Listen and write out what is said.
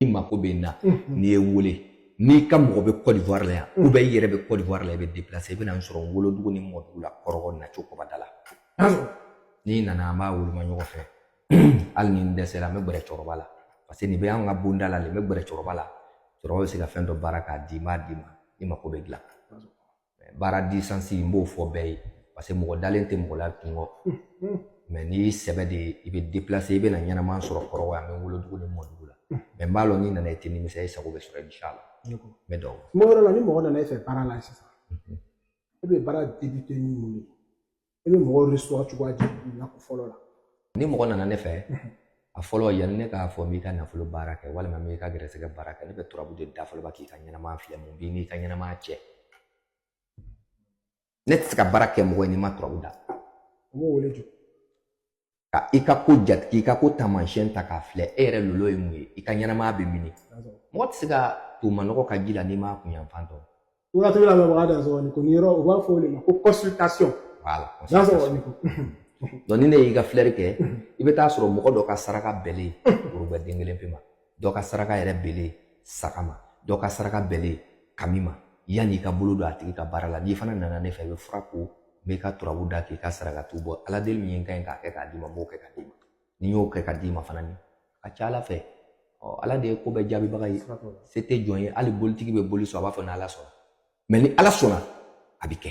i mako bɛ n na n'i ye n wele n'i ka mɔgɔ bɛ Côte d'Ivoire la yan ou bien i yɛrɛ bɛ Côte d'Ivoire la i bɛ déplacer i bɛ na n sɔrɔ n wolodugu ni mɔdugu la kɔrɔgɔ naco kɔbadara n'i nana an b'a woloma ɲɔgɔn fɛ hali ni n dɛsɛra n bɛ gɛrɛ cɛkɔrɔba la parce que nin bɛ an ka bonda la ne bɛ gɛrɛ cɛkɔrɔba la cɛkɔrɔba bɛ se ka fɛn dɔ baara k'a di n b'a d'i ma i mako bɛ dilan baara distance n b'o fɔ bɛɛ ye parce que mɔgɔ dalen tɛ mɔgɔ la tugun mais n'i ye sɛbɛ de ye i bɛ déplacer i bɛ na n ɲɛnama sɔrɔ kɔrɔgɔ yan n wolodugu ni mɔdugu la mais n b'a lɔn n'i nana i tɛ nimisa i sago bɛ sɔrɔ inshala n bɛ don kuma yɔrɔ la ni mɔgɔ nana e fɛ baara la sisan e bɛ baara débuter ni mun ye i bɛ mɔgɔw recevoir cogoya jumɛn na fɔlɔ la ni mɔgɔ nana ne fɛ a fɔlɔ yanni ne k'a fɔ n b'i ka nafolo baara kɛ walima n b'i ka gɛrɛsɛgɛ baara kɛ ne bɛ turabu de da fɔlɔ k'i ka ɲɛnamaya filɛ mun b'i n'i ka ɲɛnamaya cɛ ne tɛ se ka baara kɛ mɔgɔ ye ni n ma turabu da u b'o wele jɔ ka i ka ko jate k'i ka ko taamasiyɛn ta k'a filɛ e yɛrɛ lolo ye mun ye i ka ɲɛnamaya bɛ min mɔgɔ tɛ se ka don manɔgɔ ka ji la n'i m'a kunyanfan dɔn wagati la mɔgɔ da sɔrɔ nin ko nin yɔrɔ u b'a fɔ o de ma ko consultation voilà donc ni ne y'i ka filɛri kɛ i bɛ taa sɔrɔ mɔgɔ dɔ ka saraka bɛnlen woro gwɛ den kelen pe ma dɔ ka saraka yɛrɛ bɛnlen saga ma dɔ ka saraka bɛnlen kami ma yanni i ka bolo don a tigi ka baara la n'i fana nana ne fɛ i bɛ fura ko n b'i ka turabu da k'i ka sarakati bɔ ala deli min ye n ka ɲi k'a kɛ k'a d'i ma n b'o kɛ k'a d'i ma ni n y'o kɛ k'a d'i ma fana ni a ka ca ala fɛ ɔ ala de ye ko bɛɛ jaabibaga ye se tɛ jɔn ye hali bolitigi bɛ boli sɔn a b'a fɔ ni ala sɔnna mais ni ala sɔnna a bɛ kɛ